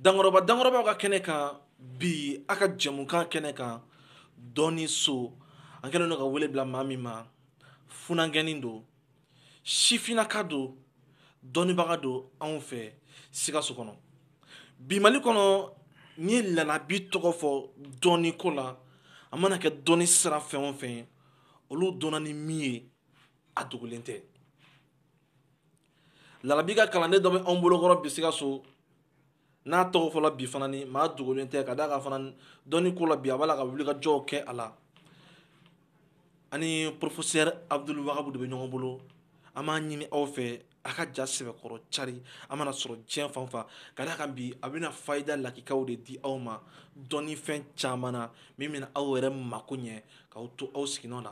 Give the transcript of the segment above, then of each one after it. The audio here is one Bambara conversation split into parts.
dankɔrɔba dankɔrɔbaw ka kɛnɛ kan bi a ka jɛmukan kɛnɛ kan dɔnni so an kɛlen don ka wele bila maa min ma funankɛnin don sifinaka don dɔnnibaga don anw fɛ sikaso kɔnɔ bi mali kɔnɔ n'i ye lalabi tɔgɔ fɔ dɔnni ko la a mana kɛ dɔnni sira fɛn o fɛn olu dɔnna ni min ye a dogolen tɛ lalabi ka kalanden dɔ bɛ anw bolokɔrɔ bi sikaso n'a tɔgɔ fɔla bi fana ni maa dogolen tɛ ka d'a kan fana dɔnni ko la bi a b'a la ka wulikajɔw kɛ a la ani porofesɛri abudul wagabu de bɛ ɲɔgɔn bolo an b'a ɲini aw fɛ a ka ja sɛbɛkɔrɔ cari a mana sɔrɔ diɲɛ fan fan ka d'a kan bi a bɛna fayida lakikaw de di aw ma dɔnnifɛn caman na min bɛna aw yɛrɛ mako ɲɛ k'aw to aw siginɔ na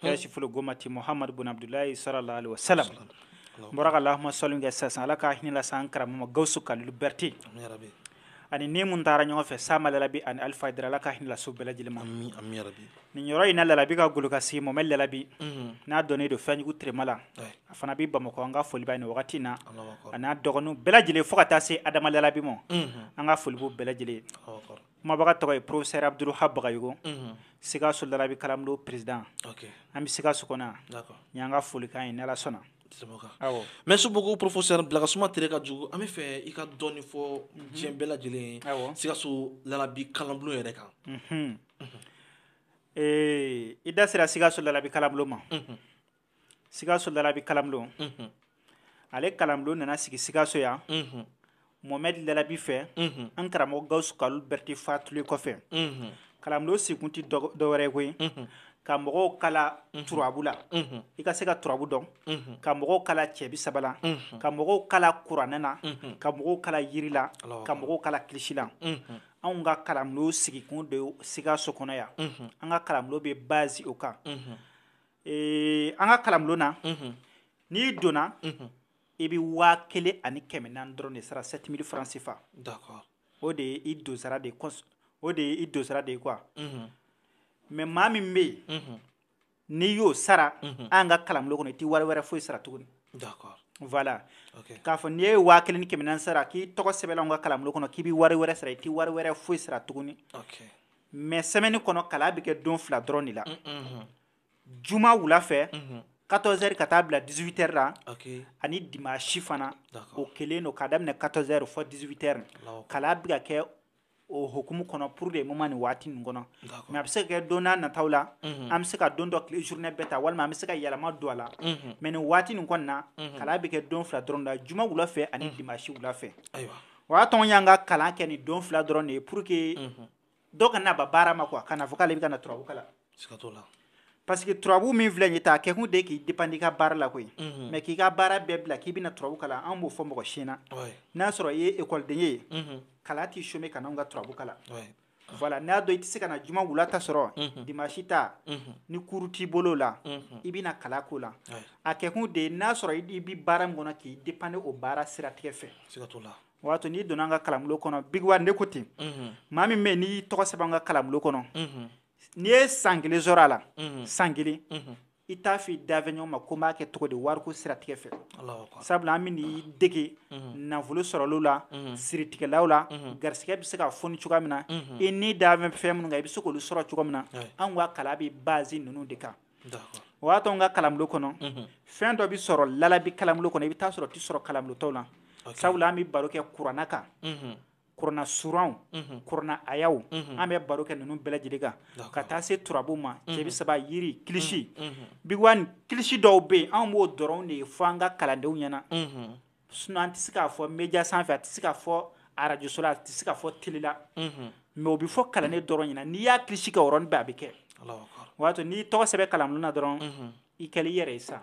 kashiful gomati muhamadu bun abdulayi sallallahu alaihi wasallam n bɔra ka allahumma salli kɛ sisan ala ka hinɛ lase an karamɔgɔ gawusu kalilu berete ani ni mun taara ɲɔgɔn fɛ sama lalabi ani alifa hayidara ala ka hinɛ lase u bɛɛ lajɛlen ma nin yɔrɔ in na lalabi ka golokansigi mohamɛdi lalabi mhm. n'a dɔnnen don fɛnjugu tirema la a fana bɛ bamakɔ an ka foli b'a ye nin wagati na ani a dɔgɔninw bɛɛ lajɛlen fo ka taa se adama lalabi ma mhm. an ka foli b'u bɛɛ lajɛlen kumabaga tɔgɔ ye professeur Abdul wahab bagayogo mhm. sikaso lalabi kalanbulon président an bɛ sikaso kɔnɔ yan ni an ka folikan ye ni ala sɔnna merci beaucoup professeur bilakasuma tere ka jugu an bɛ fɛ i ka dɔɔni fɔ mhm. diɲɛ bɛɛ lajɛlen ye sikaso lalabi kalanbulon yɛrɛ kan mhm. ee i da sera sikaso lalabi kalanbulon ma sikaso lalabi kalanbulon ale kalanbulon nana sigi sikaso yan mohamɛdi lalabi fɛ an karamɔgɔ gawusu kalilu berete fatulen kɔfɛ kalanbulon sigikun tɛ dɔwɛrɛ ye koyi ka mɔgɔw kala turabu la i ka se ka turabu dɔn ka mɔgɔw kala cɛ bisaba la ka mɔgɔw kala kuranɛ na ka mɔgɔw kala yiri la ka mɔgɔw kala kilisi la anw ka kalanbulon sigikun don sikaso kɔnɔ yan an ka kalanbulon bɛ base o kan ee an ka kalanbulon na n'i donna i bɛ waa kelen ani kɛmɛ naani dɔrɔn de sara sept mille francs CFA o de ye i donsara de ye quoi mais maa min bɛ yen n'i y'o sara an ka kalanbulon kɔnɔ i tɛ wari wɛrɛ foyi sara tuguni voilà k'a fɔ n'i ye waa kelen ni kɛmɛ naani sara k'i tɔgɔ sɛbɛnna anw ka kalanbulon kɔnɔ k'i bɛ wari wɛrɛ sara i tɛ wari wɛrɛ foyi sara tuguni. mais semaine kɔnɔ kalan bɛ kɛ don fila dɔrɔn de la juma wula fɛ quatorze heures ka taa bila dix-huit heures la ani dimanche fana o kelen don k'a daminɛ quatorze heures fo dix-huit heures kalan bɛ ka kɛ o hukumu kɔnɔ pour le moment nin waati nin kɔnɔ mais a bɛ se ka kɛ don nataw la an bɛ se ka don dɔ tile journée bɛɛ ta walima an bɛ se ka yɛlɛma don a la mais nin waati nin kɔni na kalan bɛ kɛ don fila dɔrɔn la juma wula fɛ ani dimanche wula fɛ o y'a to an y'an ka kalan kɛ ni don fila dɔrɔn de ye pour que mhm. dɔ kana ban baara ma quoi kana fɔ k'ale bɛ ka na turabu kalan siga t'o la parce que turabu min filɛ nin ye tan a kɛkun de k'i dépendre i ka baara la koyi mhm. mais k'i ka baara bɛɛ bila k'i bɛna turabu kalan an b'o fɔ mɔgɔ si na n'a sɔrɔ i ye ekɔliden ye kalan t'i chômer ka n'anw ka turabu kalan voilà n'a dɔn i tɛ se ka na juma wula ta sɔrɔ mhm. dimanche ta mhm. ni cours t'i bolo la mhm. i bɛna kalan k'o la a kɛkun de n'a sɔrɔ i bɛ baara min kɔnɔ k'i dépendre o baara siratigɛ fɛ o y'a to n'i donna an ka kalanbulon kɔnɔ Big One ne ko ten maa min bɛ yen n'i y'i tɔgɔ sɛbɛn an ka kalanbulon kɔnɔ n'i ye san kelen sɔrɔ a la san kelen i t'a f'i dafɛɲɔgɔn ma ko n b'a kɛ cogo di wariko siratigɛ fɛ sabula an bɛn'i dege mhm. nafolo sɔrɔli la mhm. siritigɛlaw la mhm. garisɛgɛ bɛ se ka foni cogoya min na i ni da bɛ fɛn minnu kan i bɛ se k'olu sɔrɔ cogo min na anw ka kalan bɛ baser ninnu de kan o y'a to an ka kalanbulon kɔnɔ fɛn dɔ bɛ sɔrɔ lalabi kalanbulon kɔnɔ i bɛ t'a sɔrɔ o tɛ sɔrɔ kalanbulon tɔw la sabula an bɛ baro kɛ kurana kan kurana suranw kurana ayaw an bɛ baro kɛ ninnu bɛɛ lajɛlen kan ka taa se turabu ma cɛbi saba yiri kilisi Big One kilisi dɔw bɛ yen an b'o dɔrɔn de fɔ an ka kalandenw ɲɛna sinon an tɛ se k'a fɔ média sanfɛ a tɛ se ka fɔ arajoso la a tɛ se ka fɔ télé la mais o bɛ fɔ kalanden dɔrɔn ɲɛna n'i y'a kilisi kɛ o yɔrɔnin bɛɛ a bɛ kɛ o y'a to n'i tɔgɔ sɛbɛn kalan na dɔrɔn i kɛlen i yɛrɛ ye sa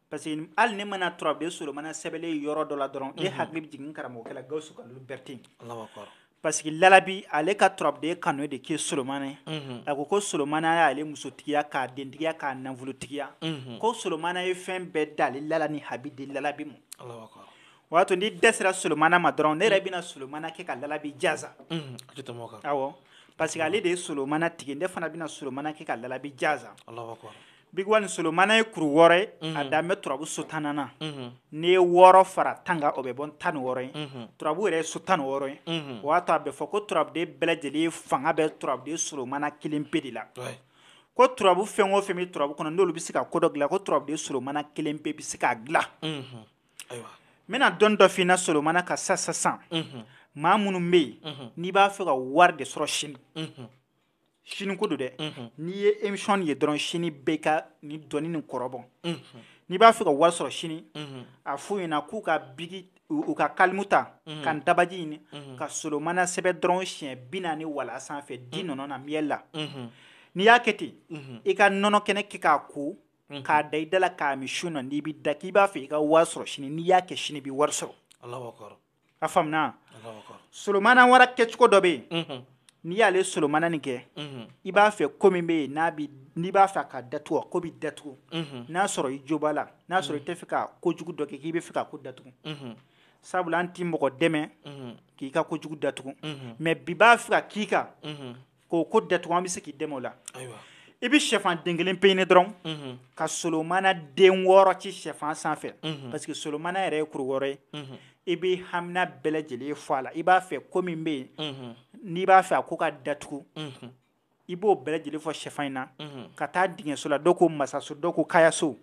parce que hali ne mana turabuden solomana sɛbɛnlen yɔrɔ dɔ la dɔrɔn ne hakili bɛ jigin karamɔgɔkɛ la gawusu kalilu berete parce que lalabi ale ka turabuden kanu de kɛ solomana ye a ko solomana y'ale musotigiya k'a dentigiya k'a nafolotigiya ko solomana ye fɛn bɛɛ da ale la ni habi di lalabi ma o y'a to ni dɛrɛsi sera solomana ma dɔrɔn ne yɛrɛ bɛna solomana kɛ ka lalabi jansa awɔ parce que ale de ye solomana tigi ne fana bɛna solomana kɛ ka lalabi jansa Big One ni solomana ye kuru wɔɔrɔ ye a mhm. dan bɛ turabu so tannan na mhm. n'i ye wɔɔrɔ fara tan kan o bɛ bɔ tan ni wɔɔrɔ ye mhm. turabu yɛrɛ ye so tan ni wɔɔrɔ ye o y'a to a bɛ fɔ ko turabuden bɛɛ lajɛlen fanga bɛ turabuden solomana kelen pe de la ko turabu fɛn o fɛn bɛ turabu kɔnɔ n'olu bɛ se ka ko dɔ dilan ko turabuden solomana kelen pe bɛ se k'a dilan n bɛna dɔnni dɔ f'i na solomana kan sa sisan maa minnu bɛ yen n'i b'a fɛ ka wari de sɔrɔ sini sini ko don dɛ n'i ye émission ye dɔrɔn sini bɛɛ ka nin dɔnni nin kɔrɔbɔ n'i b'a fɛ ka wari sɔrɔ sini a f'u ɲɛna k'u ka biki u ka kalimu ta ka dabaji ɲini ka solomana sɛbɛn dɔrɔn siɲɛ bi naani wala sanfɛ di nɔnɔ na miel la n'i y'a kɛ ten i ka nɔnɔ kɛnɛ kɛ k'a ko k'a da i da la k'a min su na n'i bɛ da k'i b'a fɛ i ka wari sɔrɔ sini n'i y'a kɛ sini i bɛ wari sɔrɔ a faamuna solomana wara kɛcogo dɔ bɛ yen n'i y'ale solomana nin kɛ i b'a fɛ ko min bɛ yen n'a bɛ n'i b'a fɛ a ka datugu a ko bɛ datugu n'a sɔrɔ i jo b'a la n'a sɔrɔ i t'a fɛ ka kojugu dɔ kɛ k'i b'a fɛ k'a ko datugu sabula an ti mɔgɔ dɛmɛ k'i ka kojugu datugu mais bi b'a fɛ ka k'i kan k'o ko datugu an bɛ se k'i dɛmɛ o la i bɛ sɛfan den kelen pe ɲini dɔrɔn mhm. ka solomana den wɔɔrɔ ci sɛfan sanfɛ mhm. parce que solomana yɛrɛ ye kuru wɔɔrɔ ye mhm. i bɛ hamina bɛɛ lajɛlen fɔ a la i b'a fɛ ko min bɛ yen n'i b'a fɛ a ko ka datugu i b'o bɛɛ lajɛlen fɔ sɛfan in na ka taa dingɛso la dɔw ko masaso dɔw ko kayaso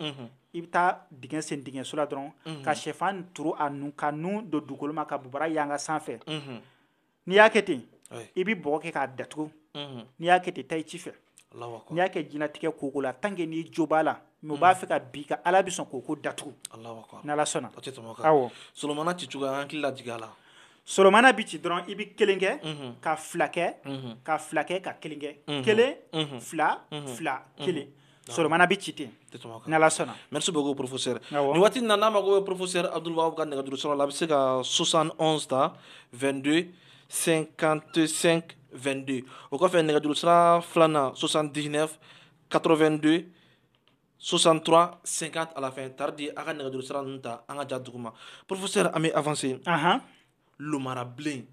i bɛ taa dingɛ sen dingɛso la dɔrɔn ka sɛfan turu a nun k'a nun don dugukolo ma k'a bobara yanga sanfɛ n'i y'a kɛ ten i bɛ bɔgɔ kɛ k'a datugu n'i y'a kɛ ten taa i ci fɛ n'i y'a kɛ jinatigɛ koko la tant que n'i jo b'a la mais u b'a fɛ ka bin i kan ala bɛ sɔn k'o ko datugu ni ala sɔnna solomana ci cogoya an hakili lajigin a la solomana bɛ ci dɔrɔn i bɛ kelen kɛ ka fila kɛ ka fila kɛ ka kelen kɛ kelen fila fila kelen solomana bɛ ci ten n'ala sɔnna merci beaucoup professeur nin waati in na n'a mago bɛ professeur abdulwahabu ka nɛgɛjuru sira la a bɛ se ka 71 ta 22 55 22 o kɔfɛ nɛgɛjuru sira filanan 79 82 63 50 à la fin tardi a ka nɛgɛjuru sira ninnu ta an ka ja duguma professeur an bɛ avancer lomarabilen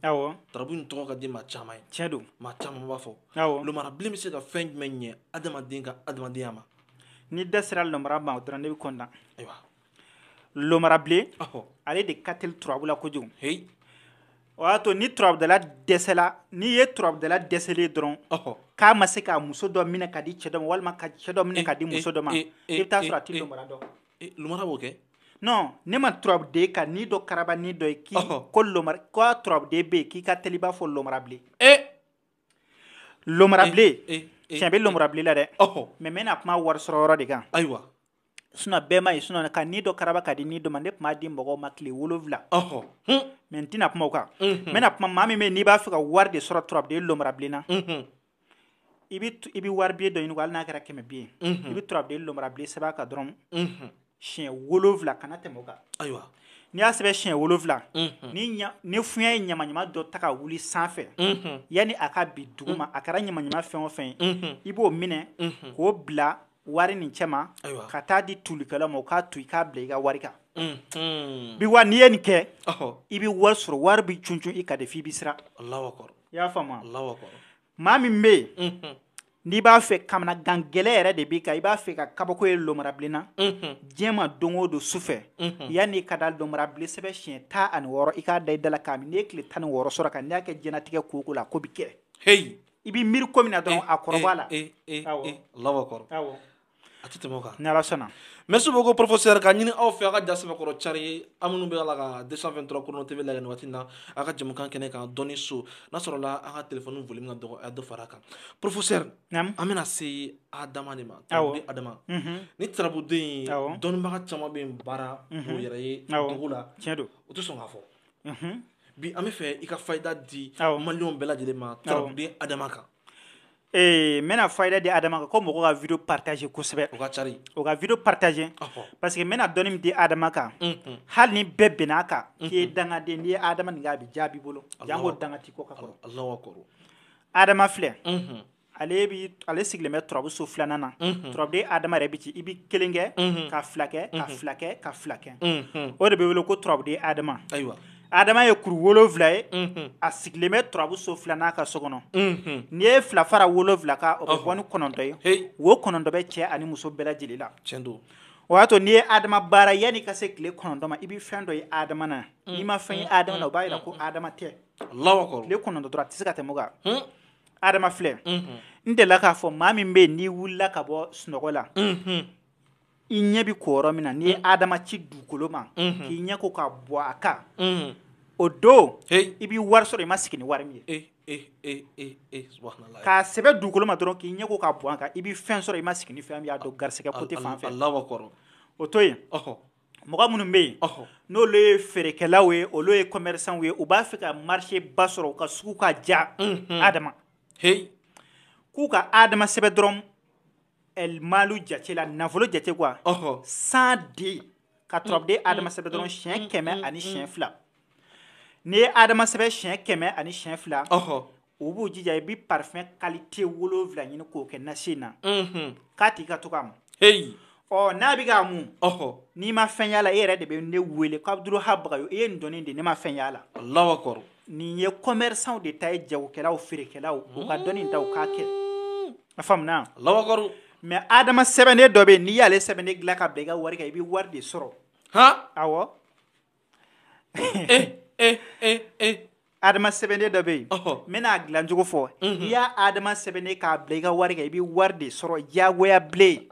turabu in tɔgɔ ka di maa caman ye tiɲɛ don maa caman b'a fɔ lomarabilen bɛ se ka fɛn jumɛn ɲɛ adamaden ka adamadenya ma ni da sera lomara ma o dɔrɔn ne bɛ kɔntan ayiwa lomarabilen ale de ka teli turabu la kojugu heyi o y'a to ni turabudala dɛsɛla n'i ye turabudala dɛsɛlen dɔrɔn k'a ma se ka muso dɔ minɛ ka di cɛ dɔ ma walima ka cɛ dɔ minɛ ka di muso dɔ ma i bɛ taa sɔrɔ a tɛ lomara dɔn eh, lomara b'o kɛ non ne ma turabuden ka ni dɔ karaba ni dɔ ye k'i ko lomara ko a turabuden bɛ yen k'i ka teli i b'a fɔ lomara bilen eh. lomara eh, bilen eh, eh, tiɲɛ bɛ lomara bilen la dɛ mais n bɛna kuma wari sɔrɔ yɔrɔ de kan ayiwa sinon bɛɛ ma ye sinon ka ni dɔ karaba ka di ni dɔ ma ne tun b'a di mɔgɔw ma tile wolonwula mais n tɛna kuma o kan n bɛna kuma maa min bɛ yen n'i b'a fɛ ka wari de sɔrɔ turabuden lomara bilen na i bɛ i bɛ wari biye dɔ ɲini hali n'a kɛra kɛmɛ biye i bɛ turabuden lomarabilen sɛbɛn a kan dɔrɔn siɲɛ wolonwula kana tɛmɛ o kan ayiwa n'i y'a sɛbɛn siɲɛ wolonwula ni fiɲɛ ye ɲamaɲama dɔ ta ka wuli sanfɛ yanni a ka bin dugu ma a kɛra ɲamaɲama fɛn o fɛn ye i b'o minɛ k'o bila wari nin cɛma ka taa di tulikɛla ma o k'a to i k'a bila i ka wari kan bi wa n'i ye nin kɛ i bɛ wari sɔrɔ wari bɛ cuncun i kan dɛ f'i bɛ siran i y'a faamu maa min bɛ yen n'i b'a fɛ kamanagan gɛlɛn yɛrɛ de b'i kan i b'a fɛ ka kabako ye lɔmarabilen na diɲɛ ma don o don su fɛ yanni i ka da lɔmarabilen sɛbɛn siɲɛ tan ani wɔɔrɔ i k'a da i da la k'a min n'i ye tile tan ni wɔɔrɔ sɔrɔ a kan n'i y'a kɛ diɲɛlatigɛ ko o ko la ko bɛ kɛ i b'i miiri ko min na dɔrɔn a kɔrɔbɔ la Alahu akibaru a tɛ tɛmɛ o kan ni Ala sɔnna merci beaucoup professeur k'a ɲini aw fɛ aw ka ja sɛbɛkɔrɔ cari aw minnu bɛ a la ka 223 Chrono TV lajɛ nin waati in na aw ka jɛmukan kɛnɛ kan dɔnni so n'a sɔrɔla aw ka telefɔni volume nin ka dɔgɔ a ye dɔ fara a kan professeur an bɛna se Adama de ma tarabuden Adama nin tarabuden in dɔnnibaga caman bɛ yen baara u yɛrɛ ye dogo la u tɛ sɔn k'a fɔ bi an b'a fɛ i ka fayida di maliyɛnw bɛɛ lajɛlen ma tarabuden adama kan ee n bɛna fayida di adama kan ko mɔgɔw ka vidéo partager kosɛbɛ u ka cari u ka vidéo partager parce que n bɛna dɔnni min di ha adama kan hali ni bɛɛ bɛnna a kan k'i ye dangaden ye n'i ye ha adama nin kɛ a bɛ jaabi i bolo janko danga t'i kɔ ka kɔrɔ adama filɛ ale bi ale sigilen bɛ turabu so filanan na mhm. turabuden adama yɛrɛ bi ci i bi kelen kɛ mhm. ka fila kɛ ka mhm. fila kɛ ka fila kɛ o de bɛ wele ko turabuden adama ayiwa adama ye kuru wolonwula ye a sigilen bɛ turabu so filanan ka so kɔnɔ n'i ye fila fara wolonwula kan o bɛ bɔ ni kɔnɔntɔn ye o kɔnɔntɔn bɛ cɛ ani muso bɛɛ lajɛlen la o y'a to n'i ye adama baara yanni ka se tile kɔnɔntɔn ma i bɛ fɛn dɔ ye adama na n'i ma fɛn ye adama na o b'a jira ko adama tɛ tile kɔnɔntɔn dɔrɔn a tɛ se ka tɛmɛ o kan adama filɛ n delila k'a fɔ maa min bɛ yen n'i wulila ka bɔ sunɔgɔ la i ɲɛ bɛ ko yɔrɔ min na n'i ye adama ci dugukolo ma k'i ɲɛ ko k'a bɔn a kan o don i bɛ wari sɔrɔ i ma sigi ni wari min ye k'a sɛbɛn dugukolo ma dɔrɔn k'i ɲɛ ko k'a bɔn a kan i bɛ fɛn sɔrɔ i ma sigi ni fɛn min y'a dɔn garisɛgɛ côté fan fɛ o to yen mɔgɔ minnu bɛ yen n'olu ye feerekɛlaw ye olu ye commerçants ye u b'a fɛ ka marché ba sɔrɔ u ka sugu ka diya Adama k'u ka Adama sɛbɛn dɔrɔn El Maalu jate la nafolo jate quoi cent deux ka turabuden Adama sɛbɛn dɔrɔn siɲɛ kɛmɛ ani siɲɛ fila n'i ye Adama sɛbɛn siɲɛ kɛmɛ ani siɲɛ fila u b'u jija i bɛ parfum qualité wolonwula ɲini k'o kɛ nasi in na k'a tigi ka to k'a mu ɔ n'a bɛ k'a mu n'i ma fɛn y'a la e yɛrɛ de bɛ ne wele ko Abdul Wahab Bagayogo i ye nin dɔnni di ne ma fɛn y'a la Alahu akibaru nin ye commerçants de ta ye jagokɛlaw feerekɛlaw u ka dɔnni ta u k'a kɛ a faamuna Alahu akibaru mais Adama sɛbɛnden dɔ bɛ yen n'i y'ale sɛbɛnden dilan ka bila i ka wari kan i bɛ wari de sɔrɔ awɔ adama sɛbɛnden dɔ bɛ yen n bɛna dilancogo fɔ n'i y'a adama sɛbɛnden k'a bila i ka wari kan i bɛ wari de sɔrɔ diyagoya bilen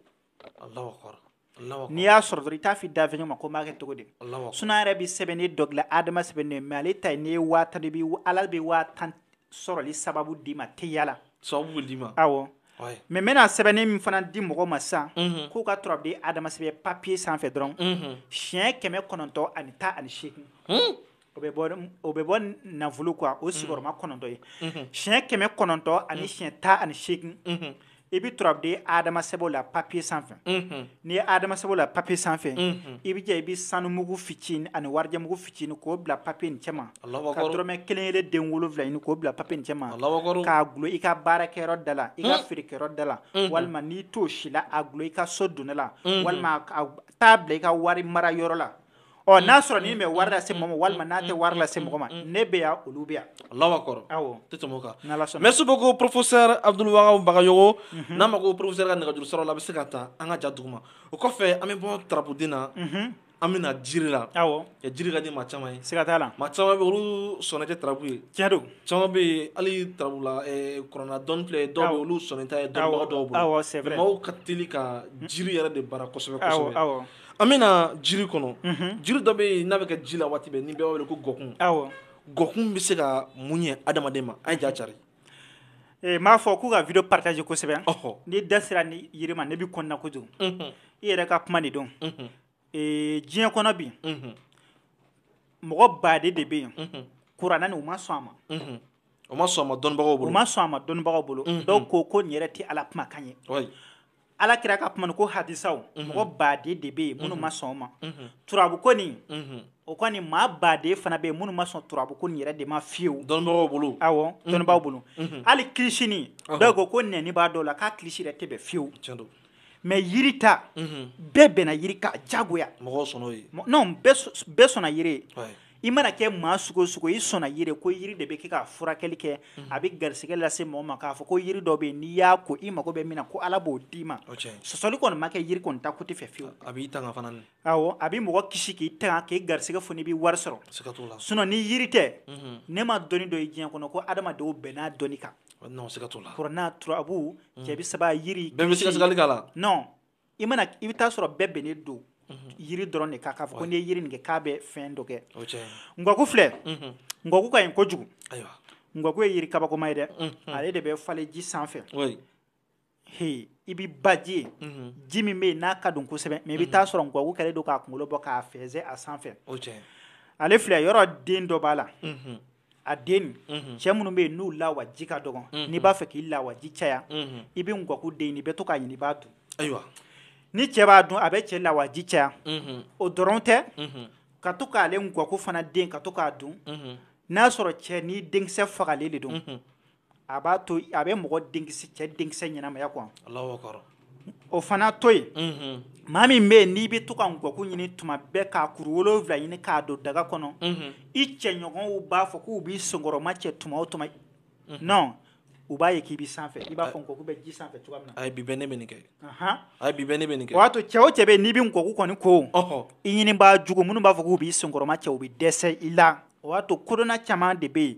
n'i y'a sɔrɔ dɔrɔn i t'a f'i dafɛɲɔgɔn ma ko n b'a kɛ cogo di sinon n yɛrɛ bɛ sɛbɛnden dɔ dilan adama sɛbɛnden mais ale ta ye n'i ye waa tan de bila ala bɛ waa tan sɔrɔli sababu d'i ma teliya la sababu bɛ d'i ma awɔ mais n bɛna sɛbɛnni min fana di mɔgɔ ma san k'u ka turabuden adama sɛbɛn papier sanfɛ dɔrɔn siɲɛ kɛmɛ kɔnɔntɔn ani tan ani segin o bɛ bɔ nafolo quoi o sigiyɔrɔma kɔnɔntɔn ye siɲɛ kɛmɛ kɔnɔntɔn ani siɲɛ tan ani segin i bɛ turabuden adama sɛbɛn la papier sanfɛ n'i ye adama sɛbɛn la papier sanfɛ i bɛ i bɛ sanumugu fitinin ani warimugu fitinin ɲini k'o bila papier nin cɛma Alahu akibaru ka dɔrɔmɛ kelen kelen den wolonwula ɲini k'o bila papier nin cɛma Alahu akibaru k'a gulon i ka baarakɛyɔrɔ da la i ka feerekɛyɔrɔ da la walima n'i t'o si la a gulon i ka so donna la walima taa a bila i ka wari mara yɔrɔ la ɔ n'a sɔrɔ n'i bɛ wari lase mɔgɔ ma walima n'a tɛ wari lase mɔgɔ ma ne bɛ yan olu bɛ yan Alahu akibaru awɔ tɛ tɛmɛ o kan n'Ala sɔnna merci beaucoup professeur Abdul Wahab Bagayogo n'a mako professeur ka nɛgɛjuru sira la a bɛ se k'a ta an ka ja duguma o kɔfɛ an bɛ bɔ turabuden na an bɛna na jiri la ɛ jiri ka di maa caman ye siga t'a la maa caman bɛ olu sɔnnen tɛ turabu ye tiɲɛ don caman bɛ yen hali turabu la kurana dɔnni filɛ dɔw bɛ olu sɔnnen t'a ye dɔnnibaga dɔw bolo c'est vrai maaw ka teli ka jiri yɛrɛ de baara kosɛbɛ kosɛbɛ an bɛna na jiri kɔnɔ jiri dɔ bɛ yen n'a bɛ kɛ ji la waati bɛɛ nin bɛ wele ko gɔkun gɔkun bɛ se ka mun ɲɛ adamaden ma a ye ja cari Ee m'a fɔ k'u ka vidéo partager kosɛbɛ n'i da sera nin yiri ma ne bɛ kɔnɔna kojugu i yɛrɛ ka kuma de don diɲɛ kɔnɔ bi mɔgɔ baden de bɛ yen kurana nin u ma sɔn a ma u ma sɔn a ma dɔnnibagaw bolo u ma sɔn a ma dɔnnibagaw bolo dɔw ko ko nin yɛrɛ tɛ ala kumakan ye ala kira ka kuma ko hadisaw mhm. mɔgɔ baden de bɛ yen minnu mhm. ma sɔn o ma mhm. turabu ko nin o kɔni maa baden fana bɛ yen minnu ma sɔn turabu ko nin yɛrɛ de ma fiyewu dɔnnibagaw bolo awɔ dɔnnibaaw bolo hali kilisi nin dɔw ko ko nɛni b'a dɔw la k'a kilisi yɛrɛ tɛ bɛn fiyewu mais yiri ta bɛɛ bɛnna yiri kan diyagoya mɔgɔw sɔnna o ye non bɛɛ sɔnna yiri ye i mana kɛ maa sugu o sugu i sɔnna yiri ko yiri de bɛ kɛ k'a furakɛli kɛ a bɛ garisɛgɛ lase mɔgɔ ma k'a fɔ ko yiri dɔ bɛ yen n'i y'a ko i mago bɛ min na ko ala b'o d'i ma sɔsɔli kɔni ma kɛ yiri kɔni ta côté fɛ fiyewu a b'i tanga fana awɔ a bɛ mɔgɔ kisi k'i tanga k'i garisɛgɛ foni i bɛ wari sɔrɔ siga t'o la sinon ni yiri tɛ ne ma dɔnni dɔ ye diɲɛ kɔnɔ ko adamadenw bɛnna dɔnni kan non siga t'o la kurana turabu cɛ bɛ saba yiri bɛɛ bɛ sigasigali k'a la non i mana i bɛ taa sɔrɔ bɛɛ bɛnnen don mhm. yiri dɔrɔn de kan k'a fɔ ko n'i ye yiri nin kɛ k'a bɛ fɛn dɔ kɛ ngɔku filɛ mhm. ngɔku ka ɲi kojugu ngɔku ye yiri kabakoma ye dɛ mhm. ale de bɛ falen ji sanfɛ he i bɛ baji ye ji min bɛ yen n'a ka dun kosɛbɛ mais i bɛ taa sɔrɔ ngɔku kɛlen don k'a kunkolo bɔ k'a fɛnsɛ a sanfɛ ale filɛ yɔrɔ den dɔ b'a la a den mhm. cɛ minnu bɛ yen n'u lawaji ka dɔgɔn mhm. n'i b'a fɛ k'i lawaji caya mhm. i bɛ ngɔku den i bɛ to k'a ɲini i b'a dun ayiwa ni cɛ b'a dun a bɛ cɛ lawaji caya o dɔrɔn tɛ ka to k'ale ngɔku fana den ka to k'a dun n'a sɔrɔ cɛ nin denkisɛ fagalen de don a b'a to a bɛ mɔgɔ denkisɛ cɛ denkisɛ ɲɛnamaya quoi o fana to yen maa min bɛ yen n'i bɛ to ka ngɔku ɲini tuma bɛɛ k'a kuru wolowula ɲini k'a don daga kɔnɔ i cɛɲɔgɔnw b'a fɔ k'u b'i senkɔrɔma cɛ tuma o tuma non u b'a ye k'i bɛ sanfɛ i b'a fɔ ngɔku bɛ ji sanfɛ cogo min na bi ne bɛ kɛ a bi ne bɛ kɛ o y'a to cɛ o cɛ bɛ yen n'i bɛ ngɔku kɔni ko i ɲinibaa jugu minnu b'a fɔ k'u b'i senkɔrɔma cɛ u bɛ dɛsɛ i la o y'a to kodɔnna caman de bɛ yen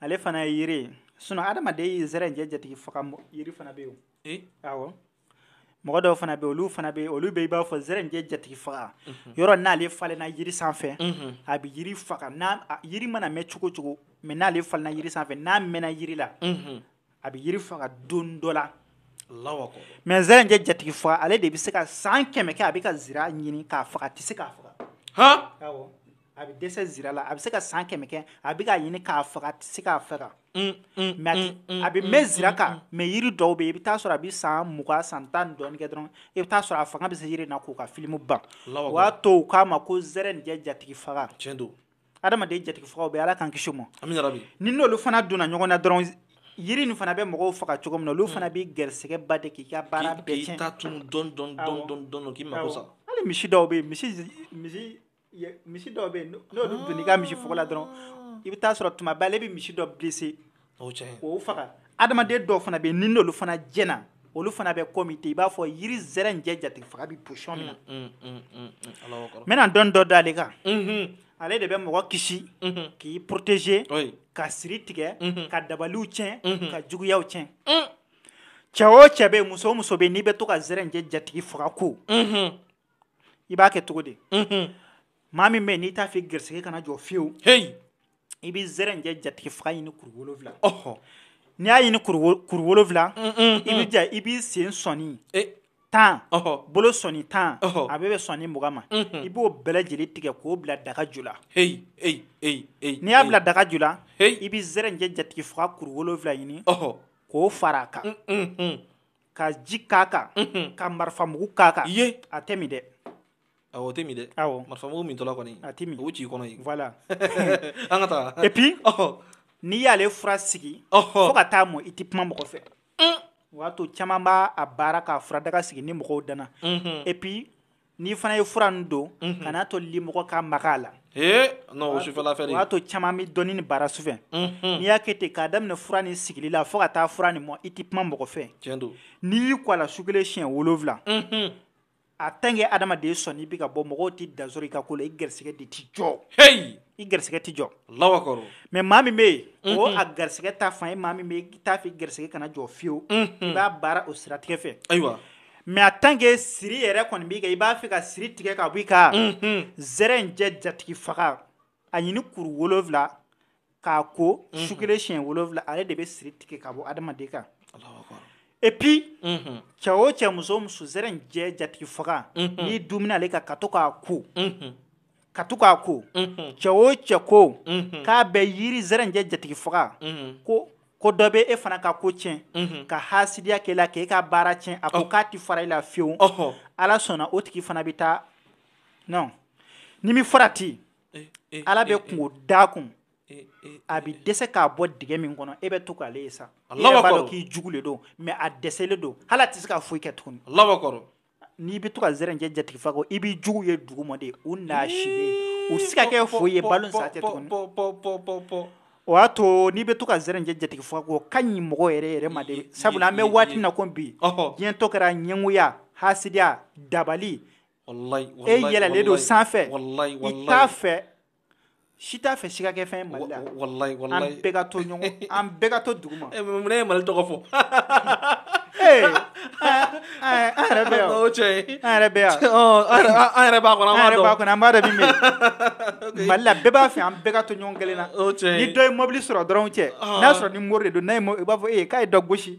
ale fana ye yiri ye sinon adamaden ye zɛrɛn jɛ jatigi faga yiri fana bɛ yen eh? awɔ mɔgɔ dɔw fana bɛ olu fana bɛ olu bɛ i b'a fɔ zɛrɛn jɛ jatigi faga mhm. yɔrɔ n'ale falenna yiri sanfɛ mhm. a bɛ yiri faga yiri mana mɛn cogo cogo mais n'ale falenna yiri sanfɛ n'a mɛnna yiri la mhm. a bɛ yiri faga don dɔ la mais zɛrɛnin jɛ jatigi faga ale de bɛ se ka san kɛmɛ kɛ a bɛ ka zira ɲini k'a faga a tɛ se k'a faga a bɛ dɛsɛ zira la a bɛ se ka san kɛmɛ kɛ a bɛ k'a ɲini k'a faga a tɛ se k'a faga mais a bɛ mɛn zira kan mais yiri dɔw bɛ i bɛ taa sɔrɔ a bɛ san mugan san tan dɔɔnin kɛ dɔrɔn i bɛ taa sɔrɔ a fanga bɛ se yiri na k'u ka filimu ban o y'a to u k'a ma ko zɛrɛnin jɛ jatigi faga tiɲɛ don adamaden jatigifagaw bɛ ala k'an kisi o ma ni n'olu fana donna ɲɔgɔn na dɔrɔn yiri nin fana bɛ mɔgɔw faga cogo min na olu fana bɛ gɛrɛsɛgɛba de k'i ka baara bɛɛ hali misi dɔw bɛ misi dɔw bɛ n'olu donna i ka misi fuga la dɔrɔn i bɛ taa sɔrɔ tuma bɛɛ ale bɛ misi dɔ blessé o faga adamaden dɔw fana bɛ yen n'olu fana jɛna olu fana bɛ komi ten i b'a fɔ yiri zɛrɛnjɛ jatigi faga bɛ position min na mm, mm, mm, n bɛna dɔn dɔ da ale kan mm-hmm. ale de bɛ mɔgɔ kisi mm-hmm. k'i protéger ka siri tigɛ mm-hmm. ka dabaliw tiɲɛ ka juguyaw tiɲɛ cɛ o cɛ bɛ yen muso o muso bɛ yen n'i bɛ to ka zɛrɛnjɛ jatigi faga ko i b'a kɛ cogo di maa min bɛ yen n'i t'a fɛ garisɛgɛ kana jɔ fiyewu i bɛ zɛrɛnjɛ jatigi faga ɲini kuru wolowula n'i y'a ɲini kuru wolowula i b'i jija i b'i sen sɔni tan bolo sɔni tan a bɛ bɛn sɔni mugan ma i b'o bɛɛ lajɛlen tigɛ k'o bila daga ju la n'i y'a bila daga ju la i bɛ zɛrɛnjɛ jatigi faga kuru wolowula ɲini k'o fara a kan ka ji k'a kan ka marifa mugu k'a kan a tɛ min dɛ Awɔ, o tɛ min dɛ, awɔ, marifa mugu min tɔla kɔni, a tɛ min, o ci i kɔnɔ yen, voilà an ka taa, et puis ɔhɔ, n'i y'ale fura sigi, ɔhɔ, fo ka taa mɔ i tɛ kuma mɔgɔ fɛ, un, o y'a to caman b'a a baara k'a furadaga sigi ni mɔgɔw danna, unhun, et puis n'i fana ye fura ninnu don, unhun, kan'a to limɔgɔ ka maga a la, ee non o sufɛla fɛ de, o y'a to caman bɛ dɔnni nin baara sufɛ, unhun, n'i y'a kɛ ten k'a daminɛ fura nin sigili la fo ka taa fura nin mɔ i tɛ kuma mɔgɔ fɛ, tiɲɛ don, n'i y'i ko a la su kelen siɲɛ wolonwula, unhun. a tant que adamaden sɔɔni i bɛ ka bɔ mɔgɔw tɛ dan sɔrɔ i ka ko la i garisɛgɛ de tɛ jɔ heyi i garisɛgɛ tɛ jɔ Alahu akibaru mais maa min bɛ yen o a garisɛgɛ ta fan ye maa min bɛ yen i t'a fɛ i garisɛgɛ kana jɔ fiyewu i b'a baara o siratigɛ fɛ ayiwa mais a tant que siri yɛrɛ kɔni b'i kan i b'a fɛ ka siri tigɛ ka bɔ i kan zɛrɛnjɛ jatigi faga a ɲini kuru wolonwula k'a ko mhm. su kelen siɲɛ wolonwula ale de bɛ siri tigɛ ka bɔ adamaden kan et puis mhm. cɛ o cɛ muso o muso zɛrɛnjɛ jatigi faga mhm. n'i duumuna ale kan ka to k'a ko cɛ o cɛ ko k'a bɛ yiri zɛrɛnjɛ jatigi faga ko ko dɔ bɛ e fana ka ko tiɲɛ mhm. ka hasidiya k'e la k'e ka baara tiɲɛ a ko k'a ti fara i la fiyewu ala sɔnna o tigi fana bɛ taa non ni min farati eh, eh, ala bɛ eh, kunko d'a kun a bɛ dɛsɛ k'a bɔ dingɛ min kɔnɔ e bɛ to k'ale ye sa i yɛrɛ b'a dɔn k'i jugu le don mais a dɛsɛlen don hali a tɛ se ka foyi kɛ tuguni n'i bɛ to ka zɛrɛnjɛ jatigi faga ko i b'i jugu ye duguma de u naasilen u tɛ se ka kɛ foyi ye balo sa tɛ tuguni o y'a to n'i bɛ to ka zɛrɛnjɛ jatigi faga ko o ka ɲi mɔgɔ yɛrɛ yɛrɛ ma de sabula an bɛ waati min na ko bi diɲɛ tɔ kɛra ɲɛngoya hasidiya dabali e yɛlɛlen don sanfɛ i t'a fɛ si t'a fɛ si ka kɛ fɛn ye mali la an bɛɛ ka to ɲɔgɔn an bɛɛ ka to duguma mun ye mali tɔgɔ fɔ an yɛrɛ bɛ yan o cɛ an yɛrɛ bɛ yan an yɛrɛ b'a kɔnɔ an yɛrɛ b'a kɔnɔ an b'a dɔn min bɛ yen mali la bɛɛ b'a fɛ an bɛɛ ka to ɲɔgɔn kelen na ni dɔ ye mobili sɔrɔ dɔrɔn cɛ n'a sɔrɔ ni mori de don n'a ye i b'a fɔ e k'a ye dɔ gosi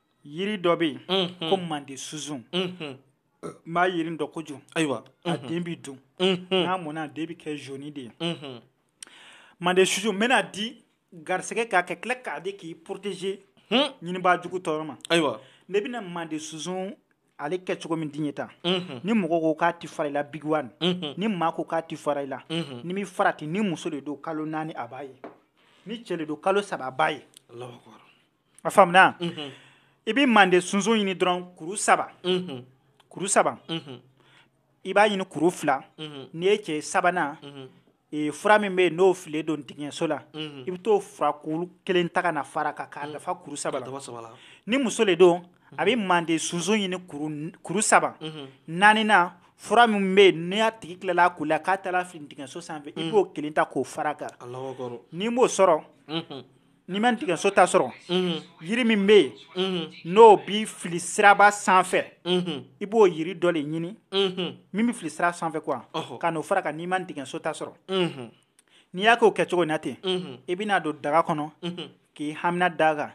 yiri dɔ bɛ yen ko mande sunsun n b'a yiri dɔn kojugu ayiwa a den bɛ dun n'a mɔnna a den bɛ kɛ zoni de ye mande sunsun n bɛna di garisɛgɛ k'a kɛ tila k'a di k'i poroteze ɲinibaa jugu tɔɔrɔ ma ayiwa ne bɛna mande sunsun ale kɛcogo min di ye tan ni mɔgɔ ko k'a tɛ fara i la bigiwani ni maa ko k'a tɛ fara i la ni bɛ farati ni muso de don kalo naani a b'a ye ni cɛ de don kalo saba a b'a ye a faamuna i bɛ mande sunsun ɲini dɔrɔn kuru saba kuru saba i b'a ɲini kuru fila n'i ye cɛ sabanan fura min bɛ yen n'o fililen don dingɛso la i bɛ t'o fura kuru kelen ta ka na fara kan k'a dafa kuru saba ni muso de don a bɛ mande sunsun ɲini kuru saba naaninan fura min bɛ yen n'a tigi tilala koli la k'a taara fili dingɛso sanfɛ i b'o kelen ta k'o fara kan n'i m'o sɔrɔ n'i ma dingɛso ta sɔrɔ yiri min bɛ yen n'o bɛ fili siraba sanfɛ i b'o yiri dɔ de ɲini min bɛ fili sira sanfɛ kuwa ka n'o fara kan n'i ma dingɛso ta sɔrɔ n'i y'a k'o kɛcogo na ten i bɛn'a don daga kɔnɔ k'i hamina da kan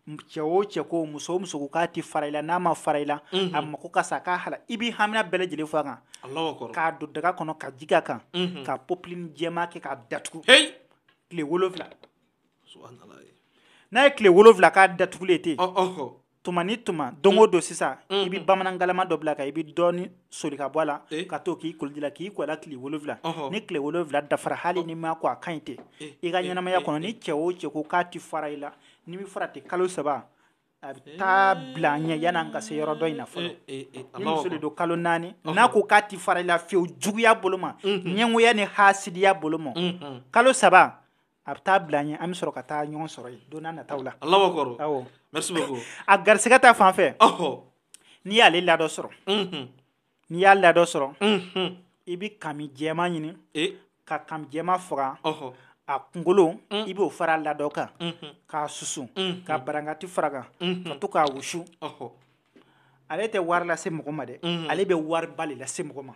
cɛ o cɛ ko muso o muso k'a tɛ fara i la n'a ma fara i la a mako ka sa k'a hala i bɛ hamina bɛɛ lajɛlen fɔ a kan k'a don daga kɔnɔ ka ji k'a kan ka popilini jɛma kɛ k'a datugu tile wolonwula n'a ye tile wolonwula k'a datugulen ten tuma ni tuma don o don sisan i bɛ bamanan galama dɔ bila kan i bɛ dɔɔni soli ka bɔ a la ka to k'i koliji la k'i ko a la tile wolonwula ni tile wolonwula dafara hali n'i m'a ko a ka ɲi ten i ka ɲɛnamaya kɔnɔ ni cɛ o cɛ ko k'a tɛ fara i la n'i bɛ fara ten kalo saba a bɛ taa bila an ɲɛ yan'an ka se yɔrɔ dɔ in na fɔlɔ eh, eh, eh, ni muso de don kalo naani n'a ko k'a ti fara i la fiyewu juguya bolo ma mhm. ɲɛngoya ni hasidiya bolo ma mhm. kalo saba a bɛ taa bila an ɲɛ an bɛ sɔrɔ ka taa ɲɔgɔn sɔrɔ yen don n'a nataw la a garisɛgɛ ta fan fɛ n'i y'ale ladɔ sɔrɔ mhm. n'i y'a ladɔ sɔrɔ i bɛ kami jɛma ɲini ka kami jɛma faga a kunkolo i b'o fara ladɔ kan k'a susu ka barankati fara kan ka to k'a wusu ale tɛ wari lase mɔgɔ ma dɛ ale bɛ wariba de lase mɔgɔ ma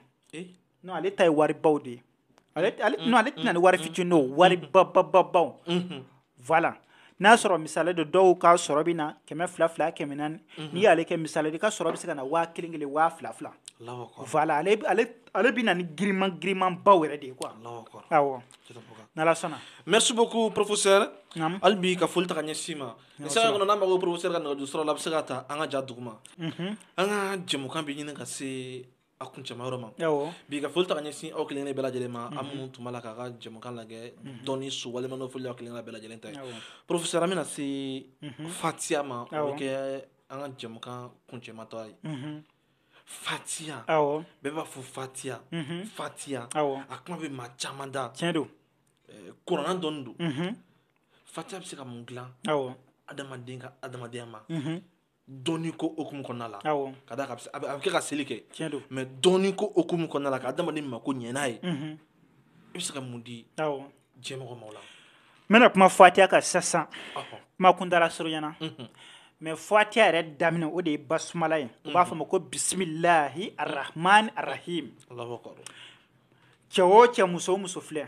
ale ta ye waribaw de ye ale ale mm, ale tɛna mm, ni wari mm, fitinin o wari babababaw mm-hmm. voilà n'a sɔrɔ misali de dɔw ka sɔrɔ bɛ na kɛmɛ fila fila kɛmɛ naani mm-hmm. n'i y'ale kɛ misali de i ka sɔrɔ bɛ se ka na waa kelen kelen waa fila fila voilà ale ale ale bɛ na ni giriman giriman baw yɛrɛ de ye quoi awɔ n'ala sɔnna merci beaucoup professeur hali bi ka foli ta ka ɲɛsin i ma ni sanga kɔnɔ n'a mago bɛ professeur ka nɛgɛjuru sira la a bɛ se k'a ta an ka ja duguma mhm. an ka jɛmukan bɛ ɲini ka se a kuncɛma yɔrɔ ma bi ka foli ta ka ɲɛsin aw kelen kelen bɛɛ lajɛlen ma aw minnu tun b'a la k'an ka jɛmukan lajɛ dɔnni so walima foli aw kelen bɛɛ lajɛlen ta ye professeur an bɛna se fatiya ma o bɛ kɛ an ka jɛmukan kuncɛmatɔ ye fatiya bɛɛ b'a fɔ fatiya fatiya a kuma bɛ maa caman da tiɲɛ don kurana dɔnni don fatiya bɛ se ka mun dilan adamaden ka adamadenya ma dɔnni ko hukumu kɔnɔna la ka d'a kan a bɛ kɛ ka seli kɛ mais dɔnni ko hukumu kɔnɔna la ka adamaden mako ɲɛ n'a ye i bɛ se ka mun di diɲɛmɔgɔ ma o la n bɛna kuma fatiya kan sisan kuma kuntaala surunyana mais fatiya yɛrɛ daminɛ o de ye basumala ye u b'a fɔ a ma ko bisimilahi arahmani arahim cɛ o cɛ muso o muso filɛ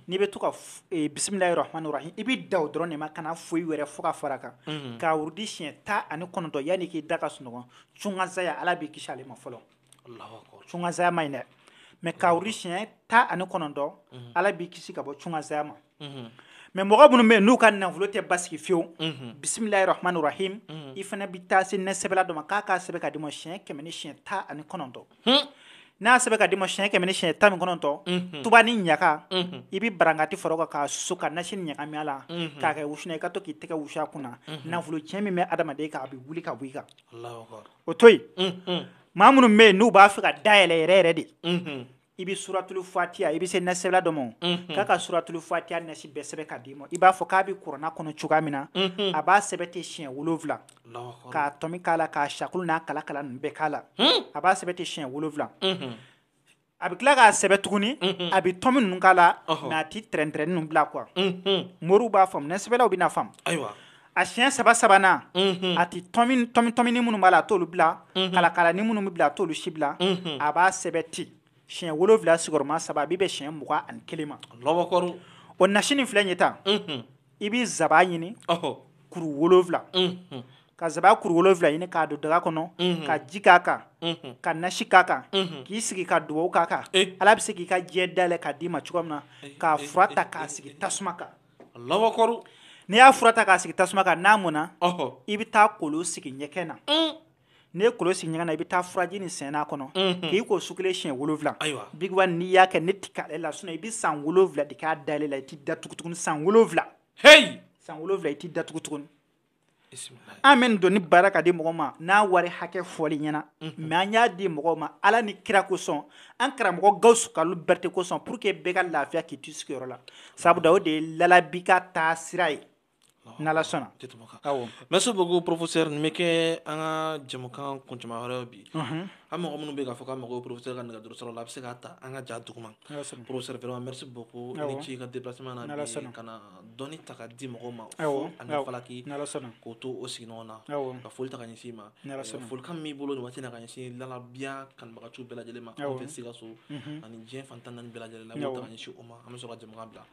n'i bɛ to ka eh, bisimilahi rahmani rahim i bɛ dan o dɔrɔn de ma kana foyi wɛrɛ fɔ ka fara a kan k'a wurudi siɲɛ tan ani kɔnɔntɔn yanni k'i da ka sunɔgɔ cunkansaya ala b'i kisi ale ma fɔlɔ cunkansaya man ɲi dɛ mais k'a wurudi siɲɛ tan ani kɔnɔntɔn ala b'i kisi ka bɔ cunkansaya ma mais mɔgɔ minnu bɛ yen n'u ka nafolo tɛ basigi fiyewu bisimilahi rahmani rahim i fana bɛ taa se nɛsɛbɛla dɔ ma k'a k'a sɛbɛn ka d'i ma siɲɛ kɛmɛ ni siɲɛ tan ani kɔnɔntɔn n'a sɛbɛn ka d'i ma siɲɛ kɛmɛ ni siɲɛ tan ni kɔnɔntɔn tubanin ɲaga i bɛ barankati fara o kan k'a susu ka nasi nin ɲagami a la k'a kɛ wusu i ka to k'i tɛgɛ wusu a kunna nafolo tiɲɛ min bɛ adamaden kan a bɛ wuli ka bɔ i kan o to yen maa minnu bɛ yen n'u b'a fɛ ka dayɛlɛ yɛrɛ yɛrɛ de i bɛ suratulu fatiya i bɛ se nɛsɛbɛla dɔ ma k'a ka suratulu fatiya nasi bɛɛ sɛbɛn ka d'i ma i b'a fɔ k'a bɛ kuranɛ kɔnɔ cogoya min na a b'a sɛbɛn ten siɲɛ wolonwula k'a tɔmi k'a la k'a sakulu n'a kala kala ninnu bɛɛ k'a la a b'a sɛbɛn ten siɲɛ wolonwula a bɛ tila k'a sɛbɛn tuguni a bɛ tɔmi ninnu k'a la a tɛ trɛntrɛn ninnu bila quoi moriw b'a faamu nɛsɛbɛlaw bɛna a faamu ayiwa a siɲɛ saba sabanan a tɛ tɔminin minnu b'a la a t'olu bila kalakalanin minnu bɛ bila a t'olu si bila a b'a sɛbɛn ten siɲɛ wolonwula sigiyɔrɔma saba a bɛ bɛn siɲɛ mugan ani kelen ma o nasi nin filɛ ye tan i bɛ zaba ɲini kuru wolowula ka zaba kuru wolowula ɲini k'a don daga kɔnɔ ka ji k'a kan ka nasi k'a kan k'i sigi ka dugawu k'a kan ala bɛ se k'i ka diɲɛ dayɛlɛ k'a d'i ma cogo min na k'a fura ta k'a sigi tasuma kan n'i y'a fura ta k'a sigi tasuma kan n'a mɔna i bɛ taa kolon sigi ɲɛgɛn na n'i ye kolon sigi ɲɛgɛn na i bɛ taa furaji nin sɛnɛ a kɔnɔ mhm. k'i ko su kelen siɲɛ wolonwula bigiwa n'i y'a kɛ ne ti k'ale la sinɔn i bɛ san wolonwula de k'a dayɛlɛ la i t'i datugu tuguni san wolonwula heyi san wolonwula i t'i datugu tuguni an bɛ nin dɔnni baara ka di mɔgɔ ma n'a wari hakɛ fɔl'i ɲɛna mais mhm. an y'a di mɔgɔw ma ala ni kira kosɔn an karamɔgɔ gawusu kalilu berete kosɔn pour que bɛɛ ka lafiya k'i to i sigiyɔrɔ la sabu da o de ye lalabi ka taa sira ye n'ala sɔnna tɛ tɛmɛ kan awɔ merci beaucoup professeur nin bɛ kɛ an ka jɛmukan kuncɛman wɛrɛ ye bi mhm. an mɔgɔ minnu bɛ k'a fɔ k'a mago bɛ professeur ka nɛgɛjuru sira la a bɛ se k'a ta an ka ja duguma professeur vraiment merci beaucoup i ni ce i ka déplacement na bi ka na dɔnni ta ka di mɔgɔw ma fu ani falaki k'o to o sigiyɔrɔ la ka foli ta ka ɲɛsin i ma folikan min b'i bolo nin waati na ka ɲɛsin lalabiya kanubagaciw bɛɛ lajɛlen ma anw fɛ Sikaso mhm. ani diɲɛ fan tan ni naani bɛɛ lajɛlen la i b'o ta ka ɲɛsin o ma an bɛ sɔrɔ ka jɛmukan bila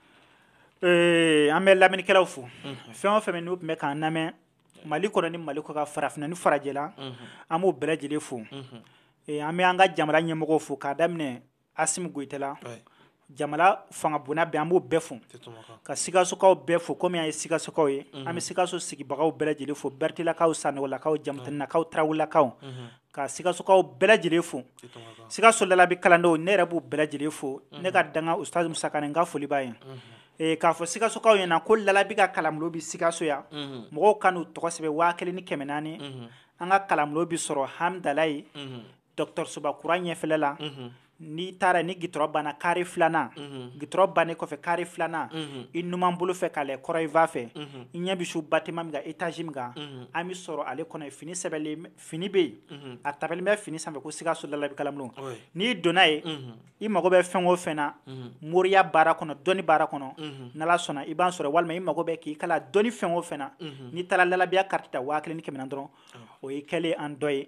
An bɛ lamɛnnikɛlaw fo fɛn o fɛn n'u tun bɛ k'an lamɛn mali kɔnɔ ni mali kɔkan farafinna ni farajɛla an b'o bɛɛ lajɛlen fo an bɛ an ka jamana ɲɛmɔgɔw fo k'a daminɛ asimi goyita la jamana fanga bonda bɛɛ an b'o bɛɛ fo ka sikasokaw bɛɛ fo kɔmi an ye sikasokaw ye an bɛ sikaso sigibagaw bɛɛ lajɛlen fo beretelakaw sanɔgɔlakaw jamutɛnɛnakaw tarawelelakaw ka sikasokaw bɛɛ lajɛlen fo sikaso lalabi kalandenw ne yɛrɛ b'u bɛɛ lajɛlen fo ne ka dankan usitaz musa kanɛ n ka foli b'a ye k'a fɔ sikasokaw ɲɛna ko lalabi ka kalanbulon bɛ sikaso yan mɔgɔw ka n'u tɔgɔ sɛbɛn waa kelen ni kɛmɛ naani an ka kalanbulon bɛ sɔrɔ hamidalayi dɔgɔtɔrɔsoba kura ɲɛfɛla la n'i taara ni gitɔrɔ banna kare filanan mhm. gitɔrɔ bannen kɔfɛ kare filanan mhm. i numan bolo fɛ k'a lɛ kɔrɔn fan fɛ mhm. i ɲɛ bi se batiman min kan etazi min kan an bi sɔrɔ ale kɔnɔ fini sɛbɛlen fini bɛ yen a tabulo bɛ fini sanfɛ ko sikaso lalabi kalanbulon n'i donna ye i mago bɛ fɛn o fɛn na moriya baara kɔnɔ dɔnni baara kɔnɔ n'ala sɔnna i b'an sɔrɔ walima i mago bɛ k'i kalan dɔnni fɛn o fɛn na n'i taara lalabiya kariti ta waa kelen ni kɛmɛ naani dɔrɔn o y'i kɛlen an dɔ ye